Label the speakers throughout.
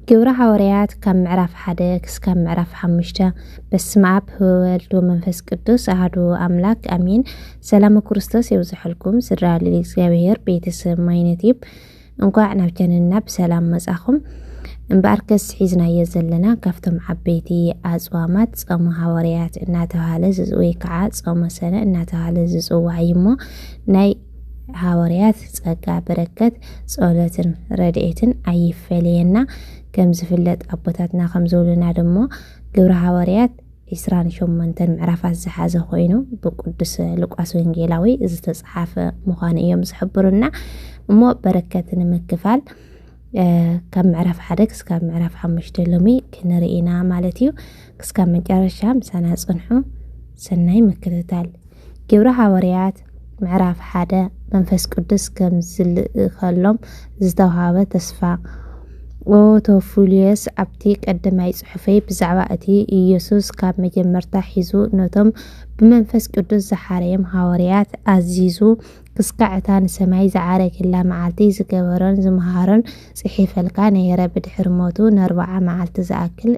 Speaker 1: ግብረ ሓወርያት ካብ ምዕራፍ ሓደ ክስካብ ምዕራፍ ሓሙሽተ በስመ ኣብ ወወልድ ወመንፈስ ቅዱስ ኣህዱ ኣምላክ ኣሜን። ሰላም ክርስቶስ የብዝሐልኩም ስድራ ልል እግዚኣብሔር ቤተሰብ ማይነት እዩ። እንኳዕ ናብ ቻነልና ብሰላም መጻኹም። እምበኣር ከስ ሒዝናዮ ዘለና ካብቶም ዓበይቲ ኣፅዋማት ጾመ ሃዋርያት እናተባሃለ ወይ ከዓ ጾመ ሰነ እናተባሃለ ዝፅዋዕ እዩ እሞ ናይ ሃወርያት ጸጋ በረከት ጸሎትን ረድኤትን ኣይፈለየና ከም ዝፍለጥ ኣቦታትና ከም ዝብሉና ድሞ ግብረ ሃወርያት ዒስራን ሸሞንተን ምዕራፋት ዝሓዘ ኮይኑ ብቅዱስ ሉቃስ ወንጌላዊ ዝተፅሓፈ ምዃኑ እዮም ዝሕብሩና እሞ በረከት ንምክፋል ካብ ምዕራፍ ሓደ ክስካብ ምዕራፍ ሓሙሽተ ሎሚ ክንርኢ ኢና ማለት እዩ ክስካብ መጨረሻ ምሳና ፅንሑ ሰናይ ምክትታል ግብሪ ሃወርያት ምዕራፍ ሓደ መንፈስ ቅዱስ ከም ዝልእኸሎም ዝተውሃበ ተስፋ ኦ ቶፉልዮስ ኣብቲ ቀደማይ ጽሑፈይ ብዛዕባ እቲ ኢየሱስ ካብ መጀመርታ ሒዙ ነቶም ብመንፈስ ቅዱስ ዝሓረዮም ሃወርያት ኣዚዙ ክስካዕ እታ ንሰማይ ዝዓረገላ መዓልቲ ዝገበሮን ዝመሃሮን ጽሒፈልካ ነይረ ብድሕሪ ሞቱ ንኣርብዓ መዓልቲ ዝኣክል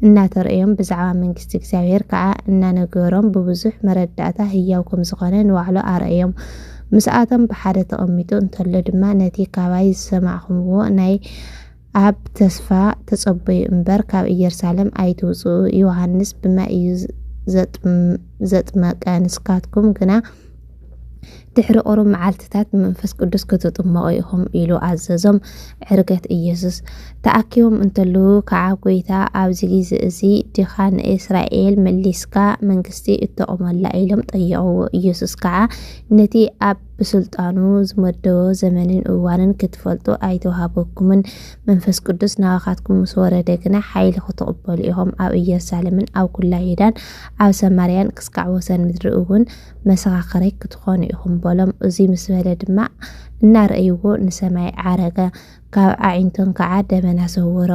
Speaker 1: እናተርእዮም ብዛዕባ መንግስቲ እግዚኣብሔር ከዓ እናነገሮም ብብዙሕ መረዳእታ ህያው ከም ዝኾነ ንባዕሉ ኣርእዮም። ምስኣቶም ብሓደ ተቐሚጡ እንተሎ ድማ ነቲ ካባይ ዝሰማዕኹምዎ ናይ ኣብ ተስፋ ተጸበዩ እምበር ካብ ኢየሩሳሌም ኣይትውጽኡ ዮሃንስ ብማይ እዩ ዘጥመቀ ንስካትኩም ግና ድሕሪ ቁሩብ መዓልትታት ብመንፈስ ቅዱስ ክትጥመቑ ኢኹም ኢሉ ኣዘዞም። ዕርገት ኢየሱስ ተኣኪቦም እንተለዉ ከዓ ጐይታ ኣብዚ ግዜ እዚ ዲኻ ንእስራኤል መሊስካ መንግስቲ እተቑመላ ኢሎም ጠየቕዎ። ኢየሱስ ከዓ ነቲ ኣብ ብስልጣኑ ዝመደቦ ዘመንን እዋንን ክትፈልጡ ኣይተዋህበኩምን፣ መንፈስ ቅዱስ ናባኻትኩም ምስ ወረደ ግና ሓይሊ ክትቕበሉ ኢኹም፣ ኣብ ኢየሩሳሌምን ኣብ ኵላ ይሁዳን ኣብ ሰማርያን ክስካዕ ወሰን ምድሪ እውን መሰኻኽረይ ክትኾኑ ኢኹም በሎም። እዙይ ምስ በለ ድማ እናረእይዎ ንሰማይ ዓረገ፣ ካብ ኣዒንቶም ከዓ ደመና ሰወሮ።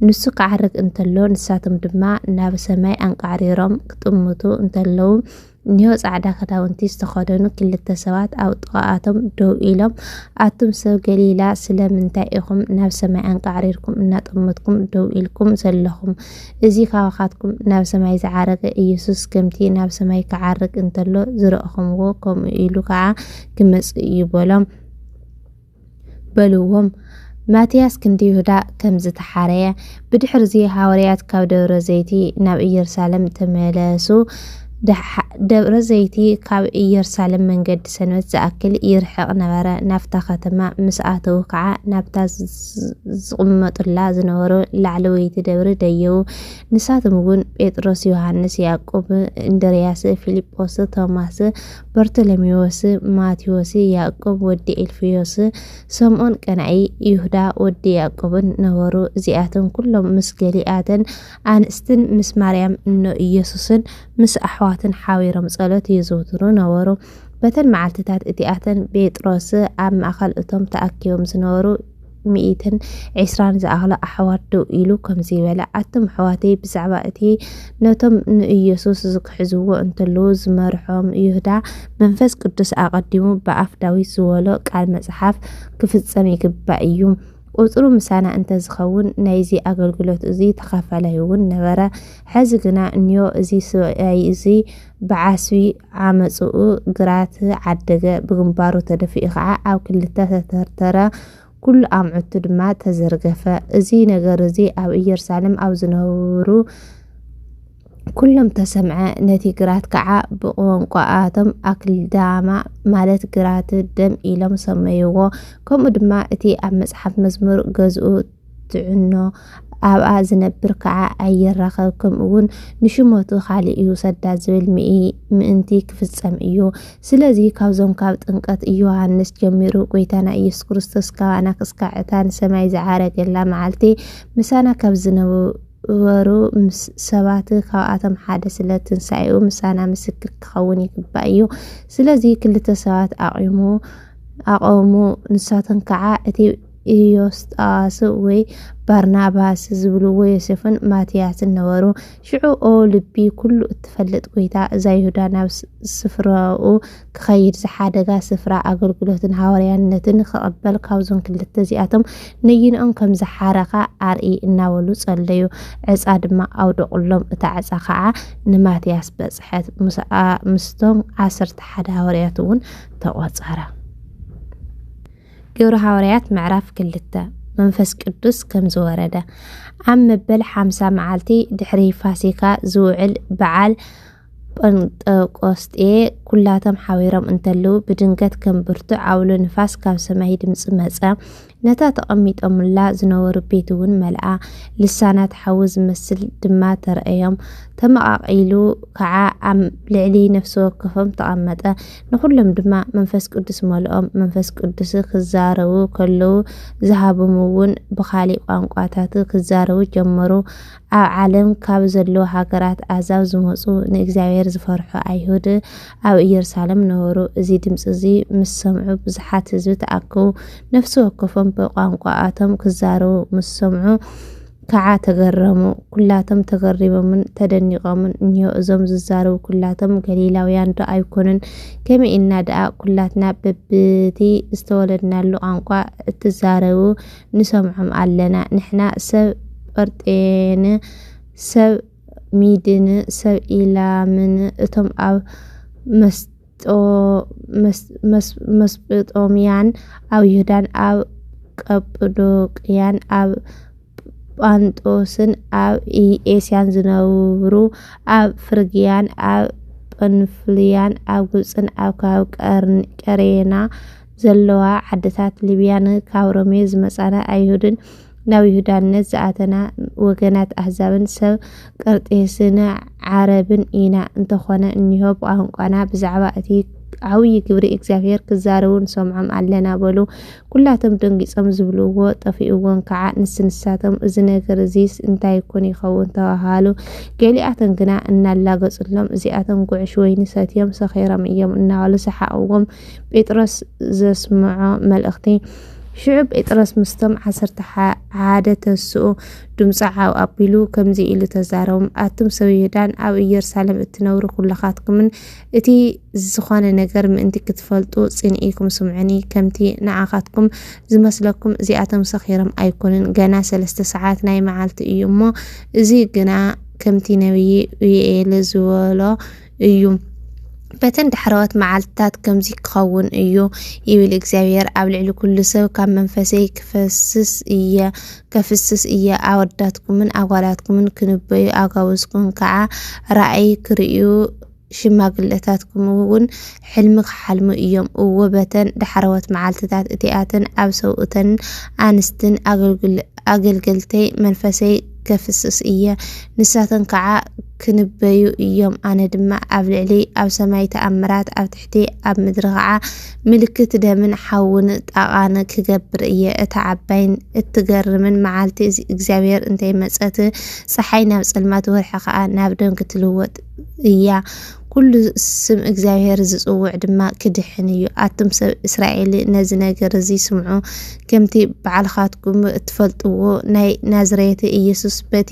Speaker 1: ንሱ ክዓርግ እንተሎ ንሳቶም ድማ ናብ ሰማይ ኣንቃዕሪሮም ክጥምቱ እንተለዉ እኒሆ ጻዕዳ ክዳውንቲ ዝተኸደኑ ክልተ ሰባት ኣብ ጥቓኣቶም ደው ኢሎም ኣቱም ሰብ ገሊላ ስለምንታይ ኢኹም ናብ ሰማይ ኣንቃዕሪርኩም እናጠመትኩም ደው ኢልኩም ዘለኹም እዚ ካባኻትኩም ናብ ሰማይ ዝዓረገ ኢየሱስ ከምቲ ናብ ሰማይ ክዓርግ እንተሎ ዝረእኹምዎ ከምኡ ኢሉ ከኣ ክመጽእ እዩ በሎም በልዎም ማትያስ ክንዲ ይሁዳ ከም ዝተሓረየ። ብድሕርዚ ሃዋርያት ካብ ደብረ ዘይቲ ናብ ኢየሩሳሌም ተመለሱ። ደብረ ዘይቲ ካብ ኢየሩሳሌም መንገዲ ሰንበት ዝኣክል ይርሕቕ ነበረ። ናብታ ኸተማ ምስ ኣተዉ ኸዓ ናብታ ዝቕመጡላ ዝነበሩ ላዕለወይቲ ደብሪ ደየቡ። ንሳቶም እውን ጴጥሮስ፣ ዮሃንስ፣ ያዕቆብ፣ እንድርያስ፣ ፊልጶስ፣ ቶማስ፣ በርቶሎሜዎስ፣ ማቴዎስ፣ ያዕቆብ ወዲ ኤልፍዮስ፣ ሰምኦን ቀናኢ፣ ይሁዳ ወዲ ያዕቆብን ነበሩ። እዚኣቶም ኩሎም ምስ ገሊኣተን ኣንስትን ምስ ማርያም እኖ ኢየሱስን ምስ ኣሕዋትን ሓቢሮም ጸሎት የዘውትሩ ነበሩ። በተን መዓልትታት እቲኣተን ጴጥሮስ ኣብ ማእከል እቶም ተኣኪቦም ዝነበሩ ሚእትን ዒስራን ዝኣኽሉ ኣሕዋት ደው ኢሉ ከምዚ በለ፣ ኣቱም ኣሕዋተይ ብዛዕባ እቲ ነቶም ንኢየሱስ ዝክሕዝዎ እንተለዉ ዝመርሖም ይሁዳ መንፈስ ቅዱስ ኣቐዲሙ ብኣፍ ዳዊት ዝበሎ ቃል መጽሓፍ ክፍጸም ይግባእ እዩ። ቁጽሩ ምሳና እንተ ዝኸውን ናይዚ ኣገልግሎት እዚ ተኻፋላይ እውን ነበረ። ሕዚ ግና እንዮ እዚ ስብኣይ እዚ ብዓስቢ ዓመጽኡ ግራት ዓደገ፣ ብግንባሩ ተደፊኡ ኸዓ ኣብ ክልተ ተተርተረ፣ ኩሉ ኣምዑቱ ድማ ተዘርገፈ። እዚ ነገር እዚ ኣብ ኢየሩሳሌም ኣብ ዝነብሩ። ኩሎም ተሰምዐ ነቲ ግራት ከኣ ብቕወንቋኣቶም ኣክልዳማ ማለት ግራት ደም ኢሎም ሰመይዎ ከምኡ ድማ እቲ ኣብ መጽሓፍ መዝሙር ገዝኡ ትዕኖ ኣብኣ ዝነብር ከኣ ኣይራኸብ ከምኡውን ንሽመቱ ካልእ ይውሰዳ ዝብል ምኢ ምእንቲ ክፍጸም እዩ ስለዚ ካብዞም ካብ ጥንቀት ዮሃንስ ጀሚሩ ጎይታና ኢየሱስ ክርስቶስ ካባና ክስካዕ እታ ንሰማይ ዝዓረገላ መዓልቲ ምሳና ካብ ዝነብ ግበሩ ምስ ሰባት ካብኣቶም ሓደ ስለ ትንሳኤኡ ምሳና ምስክር ክኸውን ይግባእ እዩ ስለዚ ክልተ ሰባት ኣቑሙ ኣቐሙ ንሳቶም ከዓ እቲ ኢዮስጣዋስ ወይ ባርናባስ ዝብልዎ ዮሴፍን ማትያስን ነበሩ ሽዑ ኦ ልቢ ኩሉ እትፈልጥ ጎይታ እዛ ይሁዳ ናብ ስፍራኡ ክኸይድ ዝሓደጋ ስፍራ ኣገልግሎትን ሃዋርያነትን ክቕበል ካብዞም ክልተ እዚኣቶም ነይንኦም ከም ዝሓረኻ ኣርኢ እናበሉ ጸለዩ። ዕጻ ድማ ኣውደቑሎም፣ እታ ዕጻ ኸዓ ንማትያስ በጽሐት፣ ምስቶም ዓሰርተ ሓደ ሃዋርያትውን ተቖጸረ። ግብሪ ሃዋርያት ምዕራፍ ክልተ መንፈስ ቅዱስ ከም ዝወረደ ኣብ መበል ሓምሳ መዓልቲ ድሕሪ ፋሲካ ዝውዕል በዓል ጰንጠቆስጤ ኵላቶም ሓቢሮም እንተለዉ፣ ብድንገት ከም ብርቱዕ ዓውሎ ንፋስ ካብ ሰማይ ድምጺ መጸ። ነታ ተቐሚጦምላ ዝነበሩ ቤት እውን መልኣ። ልሳናት ሓዊ ዝመስል ድማ ተረእዮም። ተመቓቒሉ ከኣ ኣብ ልዕሊ ነፍሲ ወከፎም ተቐመጠ። ንዅሎም ድማ መንፈስ ቅዱስ መልኦም። መንፈስ ቅዱስ ክዛረቡ ከለዉ ዝሃቦም እውን ብኻሊእ ቋንቋታት ክዛረቡ ጀመሩ። ኣብ ዓለም ካብ ዘለዉ ሃገራት ኣህዛብ ዝመጹ ንእግዚኣብሄር ዝፈርሑ ኣይሁድ ኣብ ኢየሩሳለም ነበሩ። እዚ ድምጺ እዚ ምስ ሰምዑ ብዙሓት ህዝቢ ተኣከቡ፣ ነፍሲ ወከፎም ብቋንቋኣቶም ክዛረቡ ምስ ሰምዑ ከዓ ተገረሙ። ኩላቶም ተገሪሞምን ተደኒቖምን፣ እኒሆ እዞም ዝዛረቡ ኩላቶም ገሊላውያንዶ ኣይኮኑን? ከመይ ኢልና ደኣ ኩላትና በብቲ ዝተወለድናሉ ቋንቋ እትዛረቡ ንሰምዖም ኣለና ንሕና ሰብ ጰርጤን ሰብ ሚድን ሰብ ኢላምን እቶም ኣብ መስጵጦምያን ኣብ ይሁዳን ኣብ ቀጵዶቅያን ኣብ ጳንጦስን ኣብ ኤስያን ዝነብሩ ኣብ ፍርግያን ኣብ ጵንፍልያን ኣብ ግብፅን ኣብ ከባቢ ቀሬና ዘለዋ ዓድታት ሊብያን ካብ ሮሜ ዝመጻና ኣይሁድን ናብ ይሁዳነት ዝኣተና ወገናት ኣህዛብን ሰብ ቀርጤስን ዓረብን ኢና። እንተኾነ እኒሆ ብቋንቋና ብዛዕባ እቲ ዓብዪ ግብሪ እግዚኣብሔር ክዛረቡ ንሰምዖም ኣለና በሉ። ኩላቶም ደንጊጾም ዝብልዎ ጠፊኡዎም ከዓ ንስንሳቶም እዚ ነገር እዚስ እንታይ ይኩን ይኸውን ተባሃሉ። ገሊኣቶም ግና እናላገጹሎም እዚኣቶም ጉዕሽ ወይኒ ሰትዮም ሰኺሮም እዮም እናበሉ ሰሓቕዎም። ጴጥሮስ ዘስምዖ መልእኽቲ። ሽዑ ጴጥሮስ ምስቶም ዓሰርተ ሓደ ተስኡ ድምፁ ዓው ኣቢሉ ከምዚ ኢሉ ተዛረቦም፣ ኣቱም ሰብ ይሁዳን ኣብ ኢየሩሳሌም እትነብሩ ኩላኻትኩምን እቲ ዝኾነ ነገር ምእንቲ ክትፈልጡ ጽንኢኩም ስምዑኒ፣ ከምቲ ንዓኻትኩም ዝመስለኩም እዚኣቶም ሰኺሮም ኣይኮኑን፣ ገና ሰለስተ ሰዓት ናይ መዓልቲ እዩ እሞ እዚ ግና ከምቲ ነቢይ ዩኤል ዝበሎ እዩ። በተን ዳሕረዎት መዓልትታት ከምዚ ክኸውን እዩ ይብል እግዚኣብሔር፣ ኣብ ልዕሊ ኩሉ ሰብ ካብ መንፈሰይ ክፈስስ እየ ከፍስስ እየ፣ ኣወዳትኩምን ኣጓላትኩምን ክንበዩ፣ ኣጋውዝኩም ከዓ ራእይ ክርእዩ፣ ሽማግለታትኩም እውን ሕልሚ ክሓልሙ እዮም። እወ በተን ዳሕረዎት መዓልትታት እቲኣተን ኣብ ሰብኡተንን ኣንስትን ኣገልገልተይ መንፈሰይ ከፍስስ እየ፣ ንሳተን ከዓ ክንበዩ እዮም፣ ኣነ ድማ ኣብ ልዕሊ ኣብ ሰማይ ተኣምራት፣ ኣብ ትሕቲ ኣብ ምድሪ ከዓ ምልክት ደምን ሓውን ጣቓን ክገብር እየ። እታ ዓባይን እትገርምን መዓልቲ እግዚኣብሔር እንተይመፀት ፀሓይ ናብ ፀልማት ወርሒ ከዓ ናብ ደም ክትልወጥ እያ። ኵሉ ስም እግዚኣብሄር ዚጽውዕ ድማ ኪድሕን እዩ። ኣቱም ሰብ እስራኤል፣ ነዚ ነገር እዚ ስምዑ፣ ከምቲ ባዕልኻትኩም እትፈልጥዎ፣ ናይ ናዝሬት ኢየሱስ በቲ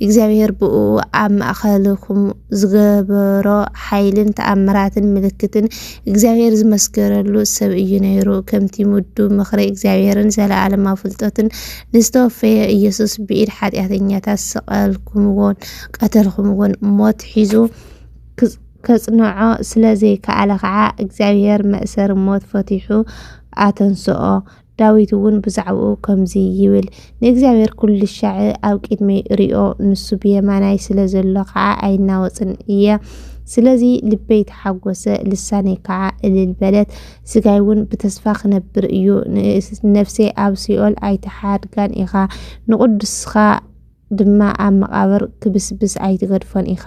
Speaker 1: እግዚኣብሄር ብእኡ ኣብ ማእከልኩም ዝገበሮ ሓይልን ተኣምራትን ምልክትን እግዚኣብሄር ዝመስከረሉ ሰብ እዩ ነይሩ። ከምቲ ምዱብ ምኽሪ እግዚኣብሄርን ዘለኣለማዊ ፍልጠቱን ንዝተወፈየ ኢየሱስ ብኢድ ሓጢኣተኛታት ሰቐልኩምዎን ቀተልኩምዎን፣ ሞት ሒዙ ከጽንዖ ስለ ዘይከኣለ ኸኣ፣ እግዚኣብሄር መእሰሪ ሞት ፈቲሑ ኣተንስኦ። ዳዊት እውን ብዛዕባኡ ከምዚ ይብል፣ ንእግዚኣብሄር ኵልሻዕ ኣብ ቅድመይ እርእዮ፣ ንሱ ብየማናይ ስለ ዘሎ ኸኣ ኣይናወጽን እየ። ስለዚ ልበይ ተሓጐሰ፣ ልሳነይ ከኣ እልል በለት፣ ስጋይ እውን ብተስፋ ኽነብር እዩ። ንነፍሰይ ኣብ ሲኦል ኣይትሓድጋን ኢኻ፣ ንቕዱስካ ድማ ኣብ መቓብር ክብስብስ ኣይትገድፎን ኢኻ።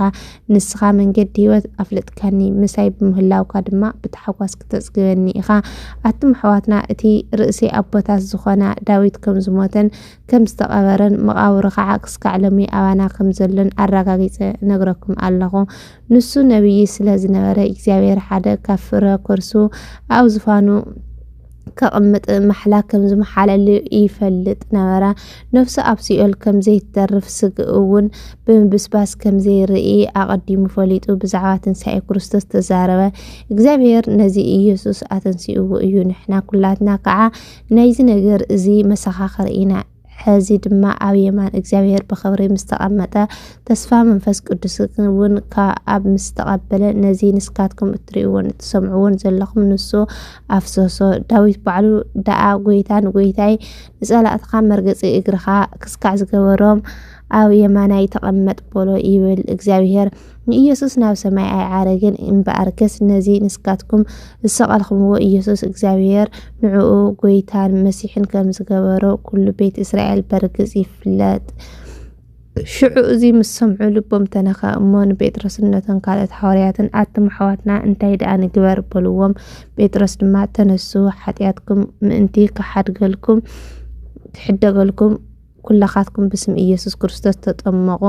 Speaker 1: ንስኻ መንገዲ ህይወት ኣፍልጥካኒ፣ ምሳይ ብምህላውካ ድማ ብታሕጓስ ክተጽግበኒ ኢኻ። ኣቱም ኣሕዋትና እቲ ርእሲ ኣቦታት ዝኾና ዳዊት ከም ዝሞተን ከም ዝተቐበረን መቓብሩ ከዓ ክስካዕ ሎሚ ኣባና ከም ዘሎን ኣረጋጊጸ እነግረኩም ኣለኹ። ንሱ ነብዪ ስለ ዝነበረ እግዚኣብሔር ሓደ ካብ ፍረ ከርሱ ኣብ ዝፋኑ ከቕምጥ ማሕላ ከም ዝመሓለሉ ይፈልጥ ነበረ። ነፍሱ ኣብ ሲኦል ከም ዘይትተርፍ ስግእ እውን ብምብስባስ ከም ዘይርኢ ኣቐዲሙ ፈሊጡ ብዛዕባ ትንሳኤ ክርስቶስ ተዛረበ። እግዚኣብሔር ነዚ ኢየሱስ ኣተንሲእዎ እዩ። ንሕና ኩላትና ከዓ ናይዚ ነገር እዚ መሰኻኽር ኢና። ሕዚ ድማ ኣብ የማን እግዚኣብሔር ብኽብሪ ምስ ተቐመጠ ተስፋ መንፈስ ቅዱስ እውን ካብ ምስ ተቐበለ ነዚ ንስካትኩም እትርእይዎን እትሰምዕዎን ዘለኹም ንሱ ኣፍሰሶ። ዳዊት ባዕሉ ደኣ ጎይታ ንጎይታይ ንጸላእትኻ መርገጺ እግርኻ ክስካዕ ዝገበሮም ኣብ የማናይ ተቐመጥ በሎ ይብል እግዚኣብሔር። ንኢየሱስ ናብ ሰማይ ኣይዓረገን እምበኣርከስ ነዚ ንስካትኩም ዝሰቀልክምዎ ኢየሱስ እግዚኣብሔር ንዕኡ ጎይታን መሲሕን ከም ዝገበሮ ኩሉ ቤት እስራኤል በርግጽ ይፍለጥ ሽዑ እዚ ምስ ሰምዑ ልቦም ተነኸ እሞ ንጴጥሮስን ነቶም ካልኦት ሓዋርያትን ኣቱም ኣሕዋትና እንታይ ደኣ ንግበር በልዎም ጴጥሮስ ድማ ተነሱ ሓጢኣትኩም ምእንቲ ክሓድገልኩም ክሕደገልኩም ኵላኻትኩም ብስም ኢየሱስ ክርስቶስ ተጠመቑ፣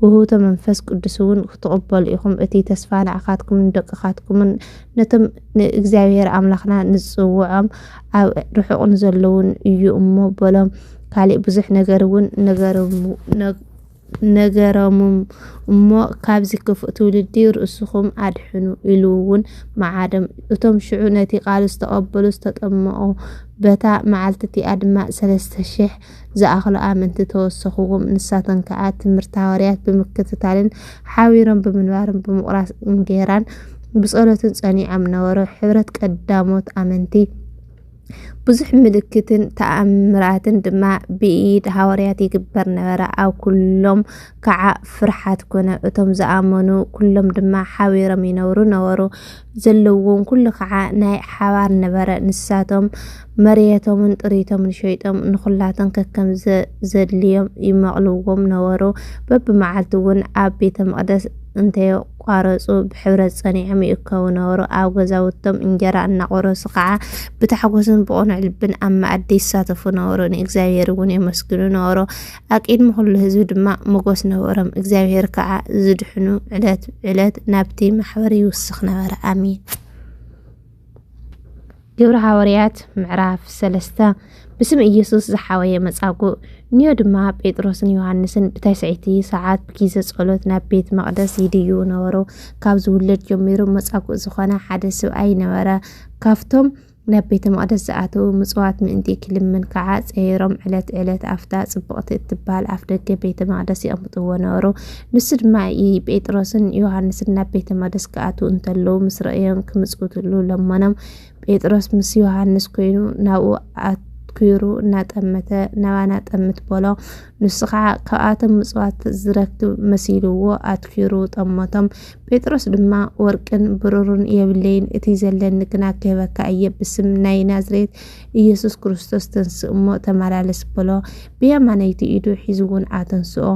Speaker 1: ውህብቶ መንፈስ ቅዱስውን ክትቕበሉ ኢኹም፣ እቲ ተስፋ ንዓኻትኩምን ንደቅኻትኩምን ነቶም ንእግዚኣብሔር ኣምላኽና ንጽውዖም ኣብ ርሑቕ ንዘለዉን እዩ እሞ በሎም። ካሊእ ብዙሕ ነገርውን ነገሮምም እሞ ካብዚ ክፉእ ትውልዲ ርእስኹም ኣድሕኑ ኢሉውን መዓዶም። እቶም ሽዑ ነቲ ቃል ዝተቐበሉ ዝተጠመቑ በታ መዓልቲ እቲኣ ድማ ሠለስተ ሽሕ ዝኣኽሉ ኣመንቲ ተወሰኹዎም። ንሳተን ከኣ ትምህርቲ ሃዋርያት ብምክትታልን ሓቢሮም ብምንባርን ብምቑራስ እንጌራን ብጸሎትን ጸኒዖም ነበሩ። ሕብረት ቀዳሞት ኣመንቲ ብዙሕ ምልክትን ተኣምራትን ድማ ብኢድ ሃዋርያት ይግበር ነበረ። ኣብ ኩሎም ከዓ ፍርሓት ኮነ። እቶም ዝኣመኑ ኩሎም ድማ ሓቢሮም ይነብሩ ነበሩ። ዘለዎም ኩሉ ከዓ ናይ ሓባር ነበረ። ንሳቶም መርየቶምን ጥሪቶምን ሸይጦም ንኹላቶም ከከም ዘድልዮም ይመቕልዎም ነበሩ። በብመዓልቱ እውን ኣብ ቤተ መቕደስ እንተየቋረፁ ብሕብረት ፀኒዖም ይእከቡ ነበሩ። ኣብ ገዛውቶም እንጀራ እናቖረሱ ከዓ ብታሕጎስን ብቕኑዕ ልብን ኣብ መኣዲ ይሳተፉ ነበሩ፣ ንእግዚኣብሔር እውን የመስግኑ ነበሩ። ኣቂድሚ ኩሉ ህዝቢ ድማ ሞጎስ ነበሮም እግዚኣብሔር ከዓ ዝድሕኑ ዕለት ዕለት ናብቲ ማሕበር ይውስኽ ነበረ ኣሜን ግብሪ ሃወርያት ምዕራፍ ሰለስተ ብስም ኢየሱስ ዝሓወየ መጻጉእ ንዮ ድማ ጴጥሮስን ዮሃንስን ብታይሰይቲ ሰዓት ብጊዘ ጸሎት ናብ ቤት መቕደስ ይድዩ ነበሩ ካብ ዝውለድ ጀሚሩ መጻጉእ ዝኾነ ሓደ ስብኣይ ነበረ ካብቶም ናብ ቤተ መቕደስ ዝኣተዉ ምጽዋት ምእንቲ ክልምን ከዓ ጸይሮም ዕለት ዕለት ኣብታ ጽብቕቲ እትበሃል ኣፍ ደገ ቤተ መቕደስ የቕምጥዎ ነበሩ። ንሱ ድማ ጴጥሮስን ዮሃንስን ናብ ቤተ መቕደስ ክኣትዉ እንተለዉ ምስ ረእዮም ክምጽውትሉ ለመኖም። ጴጥሮስ ምስ ዮሃንስ ኮይኑ ናብኡ ኣትኲሩ እናጠመተ ናባና ጠምት በሎ። ንሱ ከዓ ካብኣቶም ምጽዋት ዝረክብ መሲልዎ ኣትኲሩ ጠመቶም። ጴጥሮስ ድማ ወርቅን ብሩርን የብለይን፣ እቲ ዘለኒ ግና ክህበካ እየ፣ ብስም ናይ ናዝሬት ኢየሱስ ክርስቶስ ተንስእ እሞ ተመላለስ በሎ። ብየማነይቲ ኢዱ ሒዙ እውን ኣተንስኦ።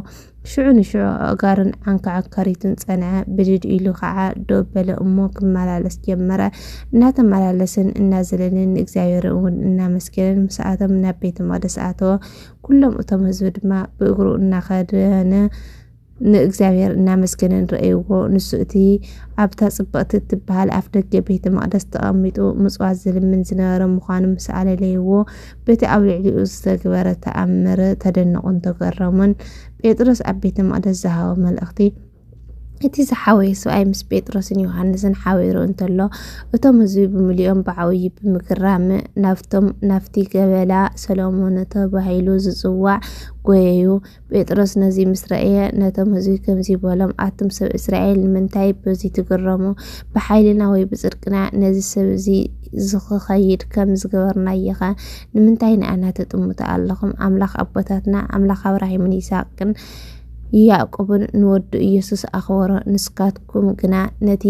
Speaker 1: ሽዑ ንሽዑ ኣእጋሩን ዓንካዕካሪቱን ጸንዐ፣ ብድድ ኢሉ ከዓ ደው በለ እሞ ክመላለስ ጀመረ። እናተመላለስን እናዘለልን ንእግዚኣብሔር እውን እናመስገንን ምስኣቶም ናብ ቤተ መቅደስ ኣተወ። ኩሎም እቶም ህዝቢ ድማ ብእግሩ እናኸደነ ንእግዚኣብሔር እናመስገነን ረእይዎ። ንሱ እቲ ኣብታ ጽብቕቲ እትበሃል ኣፍ ደገ ቤተ መቕደስ ተቐሚጡ ምጽዋት ዝልምን ዝነበረ ምዃኑ ምስ ኣለለይዎ፣ በቲ ኣብ ልዕሊኡ ዝተግበረ ተኣምር ተደነቑን ተገረሙን። ጴጥሮስ ኣብ ቤተ መቕደስ ዝሃቦ መልእኽቲ እቲ ዝሓወየ ሰብኣይ ምስ ጴጥሮስን ዮሃንስን ሓቢሩ እንተሎ እቶም ህዝቢ ብምልኦም ብዓብዪ ብምግራም ናብቶም ናብቲ ገበላ ሰሎሞን ተባሂሉ ዝጽዋዕ ጎየዩ። ጴጥሮስ ነዚ ምስ ረእየ ነቶም ህዝቢ ከምዚ በሎም፣ ኣቱም ሰብ እስራኤል ንምንታይ በዚ ትግረሙ? ብሓይልና ወይ ብጽድቅና ነዚ ሰብ እዚ ዝኽኸይድ ከም ዝገበርናዮኸ ንምንታይ ንኣና ተጥምቱ ኣለኹም? ኣምላኽ ኣቦታትና ኣምላኽ ኣብራሂምን ይስሐቅን ያዕቆብን ንወዱ ኢየሱስ ኣኽበሮ፣ ንስካትኩም ግና ነቲ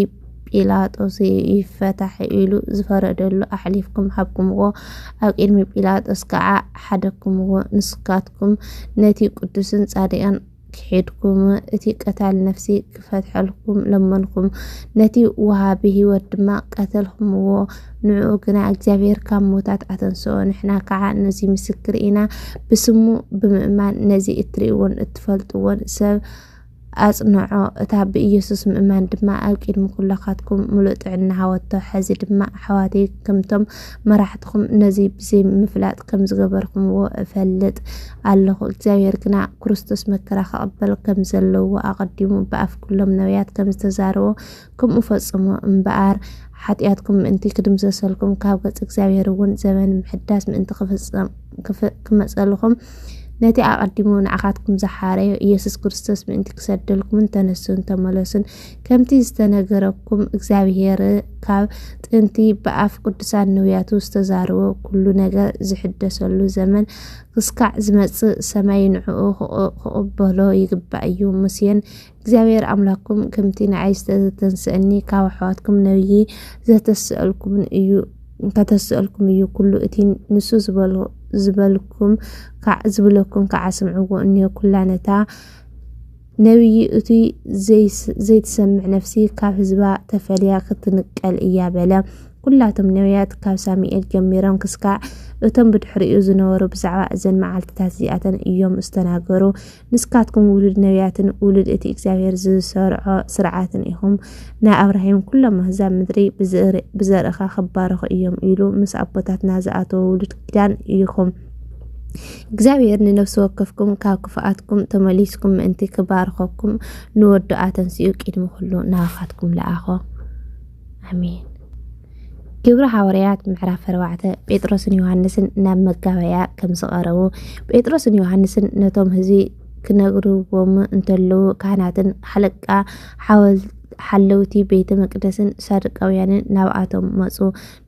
Speaker 1: ጲላጦስ ይፈታሕ ኢሉ ዝፈረደሉ ኣሕሊፍኩም ሃብኩምዎ፣ ኣብ ቅድሚ ጲላጦስ ከዓ ሓደግኩምዎ። ንስካትኩም ኹም ነቲ ቅዱስን ጻድቃን ክሒድኩም እቲ ቀታሊ ነፍሲ ክፈትሐልኩም ለመንኩም፣ ነቲ ወሃቢ ህይወት ድማ ቀተልኩምዎ። ንዕኡ ግና እግዚኣብሔር ካብ ሞታት ኣተንስኦ፣ ንሕና ከዓ ነዚ ምስክር ኢና። ብስሙ ብምእማን ነዚ እትርእይዎን እትፈልጥዎን ሰብ ኣጽንዖ፣ እታ ብኢየሱስ ምእማን ድማ ኣብ ቂድሚ ኩላካትኩም ምሉእ ጥዕና ሃወቶ። ሐዚ ድማ ኣሕዋተይ ከምቶም መራሕትኹም ነዚ ብዘይ ምፍላጥ ከም ዝገበርኩምዎ እፈልጥ ኣለኹ። እግዚኣብሔር ግና ክርስቶስ መከራ ከቐበል ከም ዘለዎ ኣቐዲሙ ብኣፍ ኩሎም ነቢያት ከም ዝተዛረቦ ከምኡ ፈጽሙ እምበኣር፣ ሓጢኣትኩም ምእንቲ ኪድምሰሰልኩም፣ ካብ ገጽ እግዚኣብሔርውን ዘበን ምሕዳስ ምእንቲ ኺመጸልኹም፣ ነቲ ኣቐዲሙ ንዓኻትኩም ዝሓረዮ ኢየሱስ ክርስቶስ ምእንቲ ኪሰደልኩምን ተነሱን ተመለሱን፣ ከምቲ ዝተነገረኩም እግዚኣብሔር ካብ ጥንቲ ብኣፍ ቅዱሳን ነውያቱ ዝተዛረቦ ኩሉ ነገር ዝሕደሰሉ ዘመን ክስካዕ ዝመጽእ ሰማይ ንዕኡ ክቕበሎ ይግባእ እዩ። ሙሴን እግዚኣብሔር ኣምላኩም ከምቲ ንዓይ ዝተተንስእኒ ካብ ኣሕዋትኩም ነብዪ ዘተስእልኩምን እዩ ከተስእልኩም እዩ ኩሉ እቲ ንሱ ዝበልኩም ዝብለኩም ከዓ ስምዕዎ እኒዮ ኩላ ነታ ነብዪ እቲ ዘይትሰምዕ ነፍሲ ካብ ህዝባ ተፈልያ ክትንቀል እያ በለ ኩላቶም ነብያት ካብ ሳሙኤል ጀሚሮም ክስካዕ እቶም ብድሕሪኡ ዝነበሩ ብዛዕባ እዘን መዓልትታት እዚኣተን እዮም ዝተናገሩ ንስካትኩም ውሉድ ነቢያትን ውሉድ እቲ እግዚኣብሔር ዝሰርዖ ስርዓትን ኢኹም። ናይ ኣብራሂም ኩሎም ኣህዛብ ምድሪ ብዘርእኻ ክባረኹ እዮም ኢሉ ምስ ኣቦታትና ዝኣተወ ውሉድ ኪዳን ኢኹም። እግዚኣብሔር ንነፍሲ ወከፍኩም ካብ ክፍኣትኩም ተመሊስኩም ምእንቲ ክባርኸኩም ንወዱ ኣተንስኡ ቅድሚ ኩሉ ናባኻትኩም ለኣኾ። ኣሜን። ግብሪ ሓዋርያት ምዕራፍ ኣርባዕተ ጴጥሮስን ዮሃንስን ናብ መጋበያ ከም ዝቐረቡ ጴጥሮስን ዮሃንስን ነቶም ህዝቢ ክነግርዎም እንተለዉ ካህናትን ሓለቃ ሓለውቲ ቤተ መቅደስን ሳዱቃውያንን ናብኣቶም መፁ።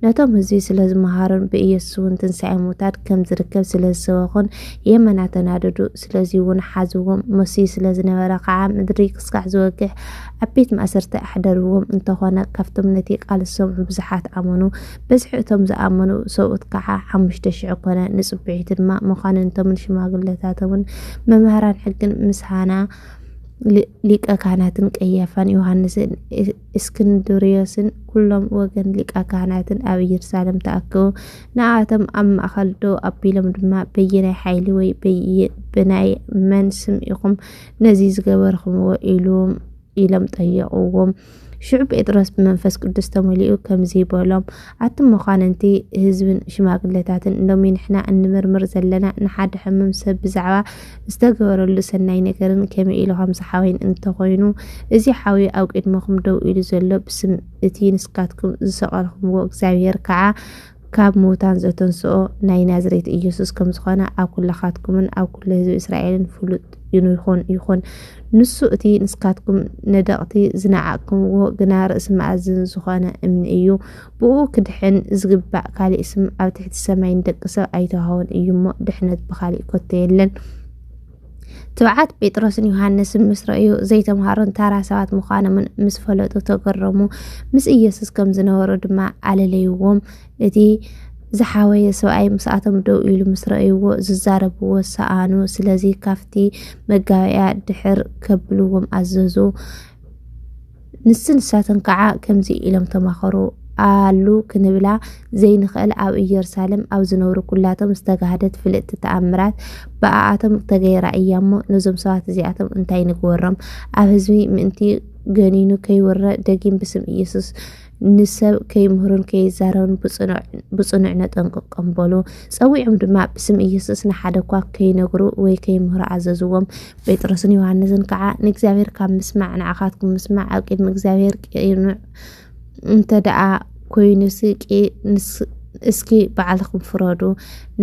Speaker 1: ነቶም ህዝቢ ስለ ዝመሃሩን ብኢየሱስ እውን ትንሣኤ ሙታን ከም ዝርከብ ስለ ዝሰበኹን የመና ተናደዱ። ስለዚ እውን ሓዝዎም። መሲሁ ስለ ዝነበረ ከዓ ምድሪ ክስካሕ ዝወግሕ ኣብ ቤት ማእሰርቲ ኣሕደርዎም እንተኾነ ካብቶም ነቲ ቃል ዝሰምዑ ብዙሓት ኣመኑ። በዝሒ እቶም ዝኣመኑ ሰብኡት ከኣ ሓሙሽተ ሽሕ ኮነ። ንጽብሒቱ ድማ መኳንንቶምን ሽማግለታቶምን መማህራን ሕግን ምስ ሃና ሊቀ ካህናትን ቀያፋን ዮሃንስን እስክንድርዮስን ኩሎም ወገን ሊቀ ካህናትን ኣብ ኢየሩሳሌም ተኣከቡ። ንኣቶም ኣብ ማእከል ደው ኣቢሎም ድማ በየናይ ሓይሊ ወይ ብናይ መን ስም ኢኹም ነዚ ዝገበርኽምዎ ኢሉም ኢሎም ጠየቕዎም። ሽዑ ጴጥሮስ ብመንፈስ ቅዱስ ተመሊኡ ከምዚ በሎም፣ ኣቲ መኳንንቲ ህዝብን ሽማግለታትን፣ ሎሚ ንሕና እንምርምር ዘለና ንሓደ ሕምም ሰብ ብዛዕባ ዝተገበረሉ ሰናይ ነገርን ከመይ ኢሉ ከም ዝሓወይን እንተኾይኑ፣ እዚ ሓዊ ኣብ ቅድመኹም ደው ኢሉ ዘሎ ብስም እቲ ንስካትኩም ዝሰቀልኩምዎ እግዚኣብሔር ከዓ ካብ ምዉታን ዘተንስኦ ናይ ናዝሬት ኢየሱስ ከም ዝኾነ ኣብ ኩላኻትኩምን ኣብ ኩሉ ህዝቢ እስራኤልን ፍሉጥ ይኹን ይኹን ንሱ እቲ ንስካትኩም ነደቕቲ ዝነዓቕኩምዎ ግና ርእሲ መኣዝን ዝኾነ እምኒ እዩ ብኡ ክድሕን ዝግባእ ካሊእ ስም ኣብ ትሕቲ ሰማይ ንደቂ ሰብ ኣይተዋህቦን እዩ እሞ ድሕነት ብኻሊእ ኮቶ የለን ትብዓት ጴጥሮስን ዮሃንስን ምስ ረእዩ ዘይተምሃሩን ታራ ሰባት ምዃኖምን ምስ ፈለጡ ተገረሙ። ምስ ኢየሱስ ከም ዝነበሩ ድማ ኣለለይዎም። እቲ ዝሓወየ ሰብኣይ ምስኣቶም ደው ኢሉ ምስ ረእይዎ ዝዛረብዎ ሰኣኑ ስለዚ ካብቲ መጋበእያ ድሕር ከብልዎም ኣዘዙ ንስ ንሳተን ከዓ ከምዚ ኢሎም ተማኸሩ፣ ኣሉ ክንብላ ዘይንኸእል ኣብ እየሩሳሌም ኣብ ዝነብሩ ኩላቶም ዝተጋህደት ፍልጥቲ ተኣምራት ብኣኣቶም ተገይራ እያ እሞ ነዞም ሰባት እዚኣቶም እንታይ ንግበሮም? ኣብ ህዝቢ ምእንቲ ገኒኑ ከይውረ ደጊም ብስም ኢየሱስ ንሰብ ከይምህሩን ከይዛረቡን ብጽኑዕ ነጠንቅቆም በሉ። ጸዊዖም ድማ ብስም ኢየሱስ ንሓደ እኳ ከይነግሩ ወይ ከይምህሩ ኣዘዝዎም። ጴጥሮስን ዮሃንስን ከዓ ንእግዚኣብሔር ካብ ምስማዕ ንዓኻትኩም ምስማዕ ኣብ ቅድሚ እግዚኣብሔር ቅኑዕ እንተ ደኣ ኮይኑሲ እስኪ ባዕልኹም ፍረዱ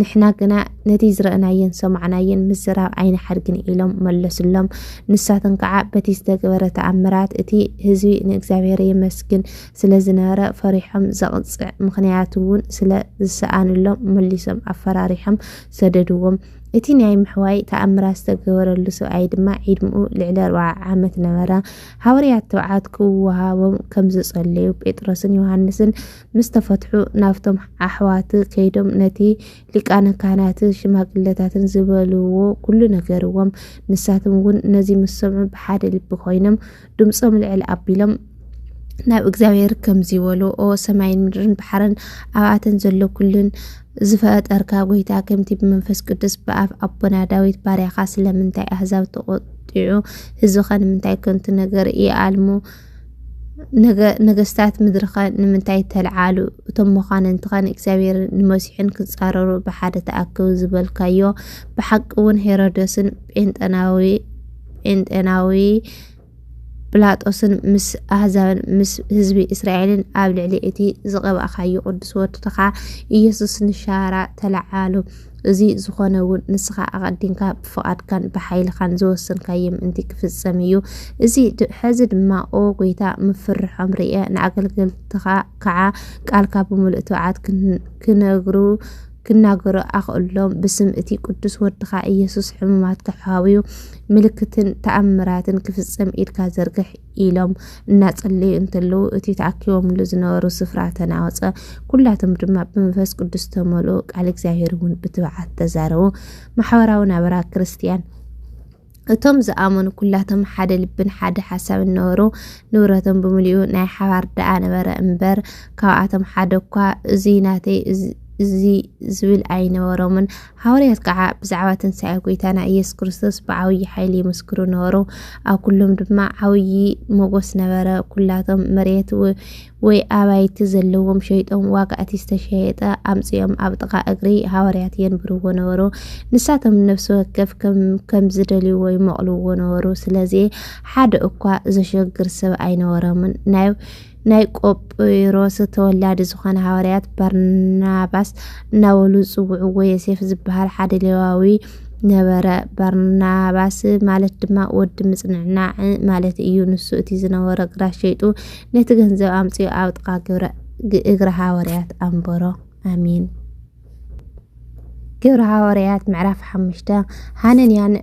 Speaker 1: ንሕና ግና ነቲ ዝረእናዮን ሰማዕናዮን ምዝራብ ኣይንሓድግን ኢሎም መለሱሎም ንሳቶም ከዓ በቲ ዝተገበረ ተኣምራት እቲ ህዝቢ ንእግዚኣብሔር የመስግን ስለ ዝነበረ ፈሪሖም ዘቕፅዕ ምክንያት እውን ስለ ዝሰኣንሎም መሊሶም ኣፈራሪሖም ሰደድዎም እቲ ናይ ምሕዋይ ተኣምራት ዝተገበረሉ ሰብኣይ ድማ ዒድምኡ ልዕሊ ኣርብዓ ዓመት ነበረ። ሃወርያት ትብዓት ክወሃቦም ከም ዝጸለዩ ጴጥሮስን ዮሃንስን ምስ ተፈትሑ ናብቶም ኣሕዋት ከይዶም ነቲ ሊቃነ ካህናትን ሽማግለታትን ዝበልዎ ኩሉ ነገርዎም። ንሳቶም እውን ነዚ ምስ ሰምዑ ብሓደ ልቢ ኮይኖም ድምፆም ልዕል ኣቢሎም ናብ እግዚኣብሔር ከምዚ በሉ ኦ ሰማይን ምድርን ባሕርን ኣብኣተን ዘሎ ኩሉን ዝፈጠርካ ጎይታ ከምቲ ብመንፈስ ቅዱስ ብኣፍ ኣቦና ዳዊት ባርያኻ ስለምንታይ ኣህዛብ ተቆጢዑ ህዝብኻ ንምንታይ ከንቱ ነገር ይኣልሙ ነገስታት ምድርኻ ንምንታይ ተልዓሉ እቶም መኳንንትኻ ንእግዚኣብሔር ንመሲሕን ክፃረሩ ብሓደ ተኣከቡ ዝበልካዮ ብሓቂ እውን ሄሮደስን ጴንጠናዊ ጴንጤናዊ ጲላጦስን ምስ ኣህዛብን ምስ ህዝቢ እስራኤልን ኣብ ልዕሊ እቲ ዝቐባእካዮ ቅዱስ ወድኻ ኢየሱስ ንሻራ ተለዓሉ። እዚ ዝኾነ እውን ንስኻ ኣቐዲምካ ብፍቓድካን ብሓይልኻን ዝወሰንካዮ ምእንቲ ክፍጸም እዩ። እዚ ሕዚ ድማ ኦ ጐይታ ምፍርሖም ርኤ፣ ንኣገልገልትኻ ከዓ ቃልካ ብምሉእ ትብዓት ክነግሩ ክናገሩ ኣኽእሎም ብስም እቲ ቅዱስ ወድኻ ኢየሱስ ሕሙማት ክሓውዩ ምልክትን ተኣምራትን ክፍጸም ኢድካ ዘርግሕ ኢሎም እናጸለዩ እንተለዉ እቲ ተኣኪቦምሉ ዝነበሩ ስፍራ ተናወጸ። ኩላቶም ድማ ብመንፈስ ቅዱስ ተመልኡ፣ ቃል እግዚኣብሔር እውን ብትብዓት ተዛረቡ። ማሕበራዊ ናበራ ክርስትያን እቶም ዝኣመኑ ኩላቶም ሓደ ልብን ሓደ ሓሳብን ነበሩ፣ ንብረቶም ብምልኡ ናይ ሓባር ደኣ ነበረ እምበር፣ ካብኣቶም ሓደ እኳ እዙይ ናተይ እዚ ዝብል ኣይነበሮምን። ሃዋርያት ከዓ ብዛዕባ ትንሣኤ ጐይታና ኢየሱስ ክርስቶስ ብዓብዪ ሓይሊ ይምስክሩ ነበሩ፣ ኣብ ኩሎም ድማ ዓብዪ ሞገስ ነበረ፣ ኩላቶም መሬት ወይ ኣባይቲ ዘለዎም ሸይጦም ዋጋ እቲ ዝተሸየጠ ኣምጺኦም ኣብ ጥቓ እግሪ ሃዋርያት የንብርዎ ነበሩ። ንሳቶም ነፍሲ ወከፍ ከም ዝደልይዎ ይመቕልዎ ነበሩ። ስለዚ ሓደ እኳ ዘሸግር ሰብ ኣይነበሮምን። ናይ ናይ ቆጵሮስ ተወላዲ ዝኾነ ሃዋርያት ባርናባስ እናበሉ ዝጽውዕዎ ዮሴፍ ዝበሃል ሓደ ሌዋዊ ነበረ። ባርናባስ ማለት ድማ ወዲ ምጽንናዕ ማለት እዩ። ንሱ እቲ ዝነበሮ ግራት ሸይጡ ነቲ ገንዘብ ኣምጽኡ ኣብ ጥቃ ግብረ እግረ ሃዋርያት ኣንበሮ ኣሜን ግብረ ሃዋርያት ምዕራፍ ሓሙሽተ ሃነንያን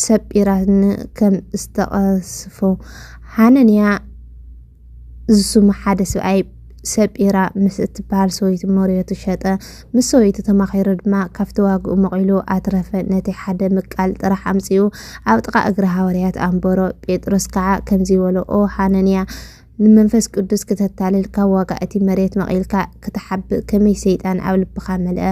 Speaker 1: ሰጲራን ከም ዝተቐስፉ ሃነንያ ዝስሙ ሓደ ስብኣይ ሰጲራ ምስ እትበሃል ሰበይቱ መርየቱ ሸጠ። ምስ ሰበይቱ ተማኺሩ ድማ ካብቲ ዋግኡ መቒሉ ኣትረፈ። ነቲ ሓደ ምቃል ጥራሕ ኣምጺኡ ኣብ ጥቓ እግሪ ሃዋርያት ኣንበሮ። ጴጥሮስ ከዓ ከምዚ በሎ፣ ኦ ሃነንያ፣ ንመንፈስ ቅዱስ ክተታልል ካብ ዋጋ እቲ መርየት መቒልካ ክትሓብእ ከመይ ሰይጣን ኣብ ልብኻ መልአ?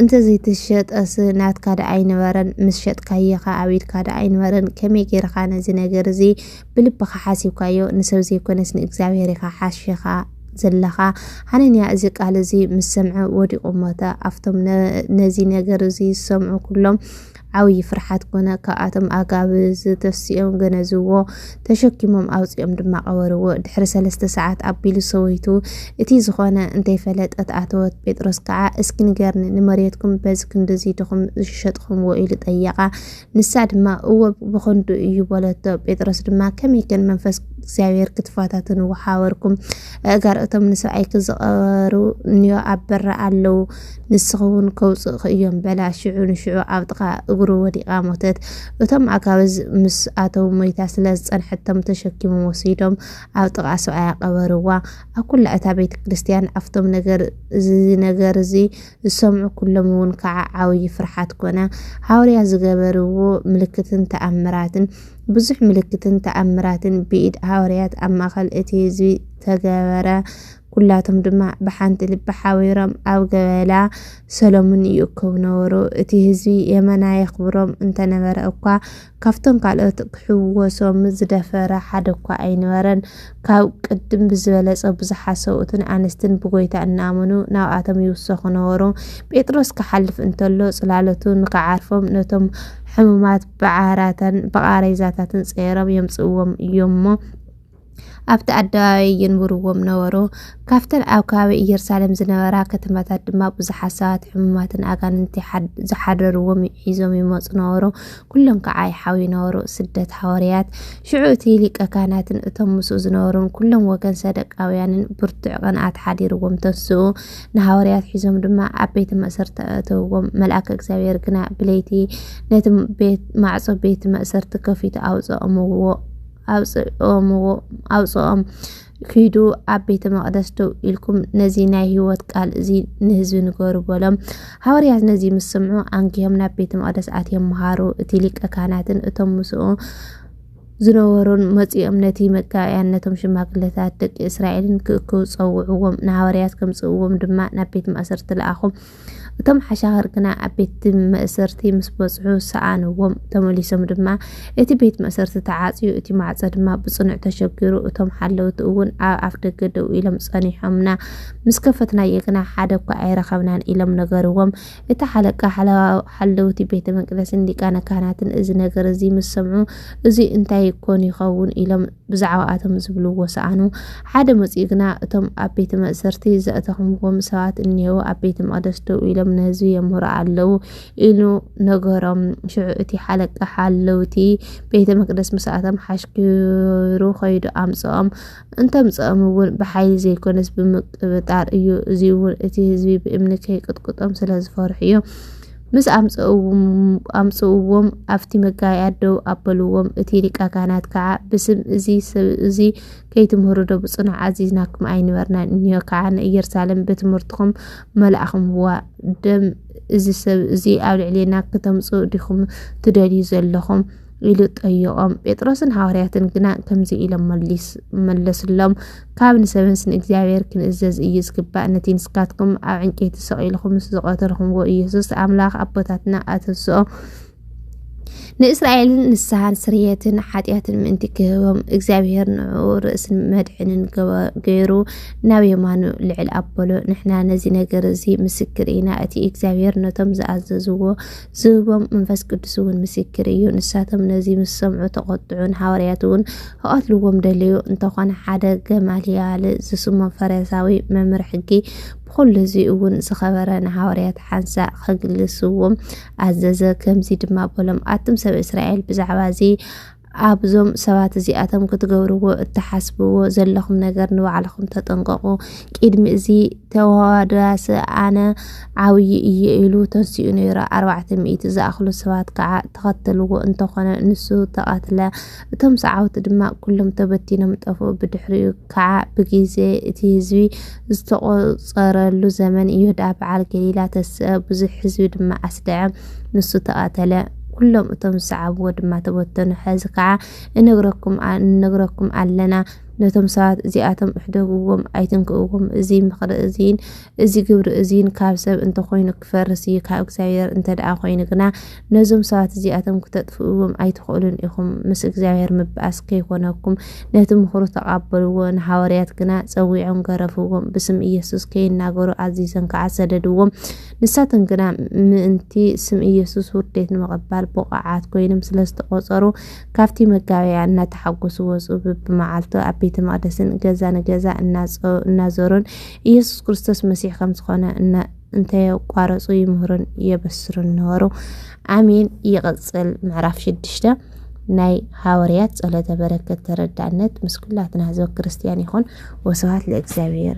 Speaker 1: እንተ ዘይተሸጠስ ናትካ ደኣ ኣይነበረን? ምስ ሸጥካዮኸ ኣብ ኢድካ ደኣ ኣይነበረን? ከመይ ገይርኻ ነዚ ነገር እዚ ብልብኻ ሓሲብካዮ ንሰብ ዘይኮነስ ንእግዚኣብሄር ኢኻ ሓሺኻ ዘለኻ። ሓነንያ እዚ ቃል እዚ ምስ ሰምዐ ወዲቑ ሞተ። ኣብቶም ነዚ ነገር እዚ ዝሰምዑ ኩሎም ዓብዪ ፍርሓት ኮነ። ካብኣቶም ኣጋብ ዝተፍስኦም ገነዝዎ፣ ተሸኪሞም ኣውፂኦም ድማ ቀበርዎ። ድሕሪ ሰለስተ ሰዓት ኣቢሉ ሰበይቱ እቲ ዝኾነ እንተይፈለጠት ኣተወት። ጴጥሮስ ከዓ እስኪ ንገርኒ ንመሬትኩም በዚ ክንድዚ ድኹም ዝሸጥኹምዎ ኢሉ ጠየቓ። ንሳ ድማ እወ ብኸንዱ እዩ በለቶ። ጴጥሮስ ድማ ከመይ ከን መንፈስ እግዚኣብሔር ክትፋታትን ወሓበርኩም እጋር እቶም ንሰብኣይ ክዝቐሩ እንዮ ኣብ በራ ኣለዉ ንስኸውን ከውፅእኽ እዮም በላ ሽዑ ንሽዑ ኣብ ጥቓ እግሩ ወዲቓ ሞተት እቶም ኣጋብዝ ምስ ኣተው ሞይታ ስለ ዝፀንሐቶም ተሸኪሞም ወሲዶም ኣብ ጥቓ ሰብኣያ ቀበርዋ ኣብ ኩላ እታ ቤተ ክርስቲያን ኣብቶም ነገር እዚ ነገር እዚ ዝሰምዑ ኩሎም እውን ከዓ ዓውዪ ፍርሓት ኮነ። ሃዋርያት ዝገበርዎ ምልክትን ተኣምራትን ብዙሕ ምልክትን ተኣምራትን ብኢድ ሃዋርያት ኣብ ማእኸል እቲ ህዝቢ ተገበረ። ኩላቶም ድማ ብሓንቲ ልቢ ሓቢሮም ኣብ ገበላ ሰሎሙን ይእከቡ ነበሩ። እቲ ህዝቢ የመና የኽብሮም እንተነበረ እኳ ካብቶም ካልኦት ክሕወሶም ዝደፈረ ሓደ እኳ ኣይነበረን። ካብ ቅድም ብዝበለጸ ብዙሓት ሰብኡትን ኣንስትን ብጎይታ እናኣመኑ ናብኣቶም ይውሰኹ ነበሩ። ጴጥሮስ ክሓልፍ እንተሎ ጽላሎቱ ንክዓርፎም ነቶም ሕሙማት ብዓራታን ብቓሬዛታትን ጸይሮም የምጽእዎም እዮምሞ ኣብቲ ኣደባባይ የንብርዎም ነበሩ። ካብተን ኣብ ከባቢ ኢየሩሳሌም ዝነበራ ከተማታት ድማ ብዙሓት ሰባት ሕሙማትን ኣጋንንቲ ዝሓደርዎም ሒዞም ይመፁ ነበሩ። ኩሎም ከዓ ይሓውዩ ነበሩ። ስደት ሃዋርያት ሽዑ እቲ ሊቀ ካህናትን እቶም ምስኡ ዝነበሩን ኩሎም ወገን ሰደቃውያንን ብርቱዕ ቅንኣት ሓዲርዎም ተስኡ። ንሃዋርያት ሒዞም ድማ ኣብ ቤተ መእሰርቲ ኣእተውዎም። መልኣከ እግዚኣብሔር ግና ብለይቲ ነቲ ቤት ማዕፆ ቤት መእሰርቲ ከፊቱ ኣውፅኦምዎ። ኣውጽኦምዎ ኣውጽኦም ኪዱ ኣብ ቤተ መቅደስ ደው ኢልኩም ነዚ ናይ ህይወት ቃል እዚ ንህዝቢ ንገሩ በሎም ሃዋርያት ነዚ ምስ ስምዑ ኣንጊሆም ናብ ቤተ መቅደስ ኣትዮም መሃሩ እቲ ሊቀ ካህናትን እቶም ምስኡ ዝነበሩን መጺኦም ነቲ መጋብያን ነቶም ሽማግለታት ደቂ እስራኤልን ክእክቡ ጸውዕዎም ንሃዋርያት ከምጽእዎም ድማ ናብ ቤት ማእሰርቲ ለኣኹም እቶም ሓሻኽር ግና ኣብ ቤት መእሰርቲ ምስ በጽሑ ሰኣንዎም። ተመሊሶም ድማ እቲ ቤት መእሰርቲ ተዓጽዩ፣ እቲ ማዕጾ ድማ ብጽኑዕ ተሸጊሩ፣ እቶም ሓለውቲ እውን ኣብ ኣፍ ደገ ደው ኢሎም ጸኒሖምና። ምስ ከፈትናዮ ግና ሓደ እኳ ኣይረኸብናን ኢሎም ነገርዎም። እቲ ሓለቃ ሓለውቲ ቤተ መቅደስን ሊቃነ ካህናትን እዚ ነገር እዚ ምስ ሰምዑ እዚ እንታይ ኮን ይኸውን ኢሎም ብዛዕባኣቶም ዝብልዎ ሰኣኑ። ሓደ መጺኡ ግና እቶም ኣብ ቤተ መእሰርቲ ዘእተኹምዎም ሰባት እኔዉ፣ ኣብ ቤተ መቕደስ ደው ኢሎም ንህዝቢ የምህሩ ኣለዉ ኢሉ ነገሮም። ሽዑ እቲ ሓለቃ ሓለውቲ ቤተ መቅደስ ምስ ኣቶም ሓሽኪሩ ኸይዱ ኣምጽኦም። እንተምጽኦም እውን ብሓይሊ ዘይኮነስ ብምቅብጣር እዩ፣ እዚ እውን እቲ ህዝቢ ብእምኒ ከይቅጥቅጦም ስለ ዝፈርሑ እዩ። ምስ ኣምጽእዎም ኣብቲ መጋባእያ ደው ኣበልዎም። እቲ ሊቀ ካህናት ከዓ ብስም እዚ ሰብ እዚ ከይትምህሩ ዶ ብጽኑዕ ኣዚዝናኩም ኣይንበርናን እንዮ ከዓ ንኢየሩሳሌም ብትምህርትኹም መላእኹምዋ ደም እዚ ሰብ እዚ ኣብ ልዕሌና ክተምጽኡ ዲኹም ትደልዩ ዘለኹም ኢሉ ጠየቖም ጴጥሮስን ሃዋርያትን ግና ከምዚ ኢሎም መለስሎም ካብ ንሰብንስ ንእግዚኣብሔር ክንእዘዝ እዩ ዝግባእ ነቲ ንስካትኩም ኣብ ዕንጨይቲ ሰቒልኹም ምስ ዝቐተልኹምዎ ኢየሱስ ኣምላኽ ኣቦታትና ኣተንስኦ ንእስራኤል ንስሓን ስርየትን ሓጢኣትን ምእንቲ ክህቦም እግዚኣብሄር ንዕኡ ርእስን መድሕንን ገይሩ ናብ የማኑ ልዕል ኣበሎ። ንሕና ነዚ ነገር እዚ ምስክር ኢና። እቲ እግዚኣብሄር ነቶም ዝኣዘዝዎ ዝህቦም መንፈስ ቅዱስ እውን ምስክር እዩ። ንሳቶም ነዚ ምስ ሰምዑ ተቖጥዑን ሃዋርያት እውን ክቐትልዎም ደለዩ። እንተኾነ ሓደ ገማልያል ዝስሙ ፈሪሳዊ መምህር ሕጊ ብኹሉ እዚ እውን ዝኸበረ ንሃዋርያት ሓንሳእ ከግልስዎም ኣዘዘ። ከምዚ ድማ በሎም፣ ኣቱም ሰብ እስራኤል ብዛዕባ እዚ ኣብዞም ሰባት እዚኣቶም ክትገብርዎ እትሓስብዎ ዘለኹም ነገር ንባዕልኹም ተጠንቀቑ ቅድሚ እዚ ተዋዳስ ኣነ ዓብዪ እየ ኢሉ ተንስኡ ነይሩ ኣርባዕተ ሚእቲ ዝኣኽሉ ሰባት ከዓ ተኸተልዎ እንተኾነ ንሱ ተቐትለ እቶም ሰዓውቲ ድማ ኩሎም ተበቲኖም ጠፍኡ። ብድሕሪኡ ከዓ ብጊዜ እቲ ህዝቢ ዝተቖፀረሉ ዘመን ዮዳ በዓል ገሊላ ተስአ፣ ብዙሕ ህዝቢ ድማ ኣስደዐ፣ ንሱ ተቐተለ። ኩሎም እቶም ዝሰዓብዎ ድማ ተበተኑ ሐዚ ከዓ እነግረኩም እነግረኩም ኣለና ነቶም ሰባት እዚኣቶም እሕደግዎም ኣይትንክእዎም እዚ ምኽሪ እዚን እዚ ግብሪ እዚን ካብ ሰብ እንተኾይኑ ክፈርስ እዩ ካብ እግዚኣብሔር እንተደኣ ኮይኑ ግና ነዞም ሰባት እዚኣቶም ክተጥፍእዎም ኣይትኽእሉን ኢኹም፣ ምስ እግዚኣብሔር ምብኣስ ከይኮነኩም፣ ነቲ ምኽሩ ተቓበልዎ፣ ንሓወርያት ግና ጸዊዖም ገረፍዎም፣ ብስም ኢየሱስ ከይናገሩ ኣዚዘን ከዓ ሰደድዎም፣ ንሳተን ግና ምእንቲ ስም ኢየሱስ ውርዴት ንምቕባል ብቑዓት ኮይኖም ስለ ዝተቖጸሩ ካብቲ መጋበያ እናተሓጎሱ ወጹ፣ ብብመዓልቱ ኣብ ቤተ መቕደስን ገዛ ንገዛ እናዞሩን ኢየሱስ ክርስቶስ መሲሕ ከም ዝኾነ እንተየቋረፁ ይምህሩን የበስሩን ነበሩ። ኣሜን። ይቕፅል ምዕራፍ ሽዱሽተ ናይ ሃወርያት ጸሎተ በረከት ተረዳእነት ምስ ኩላትና ህዝበ ክርስቲያን ይኹን። ወስብሐት ለእግዚኣብሔር።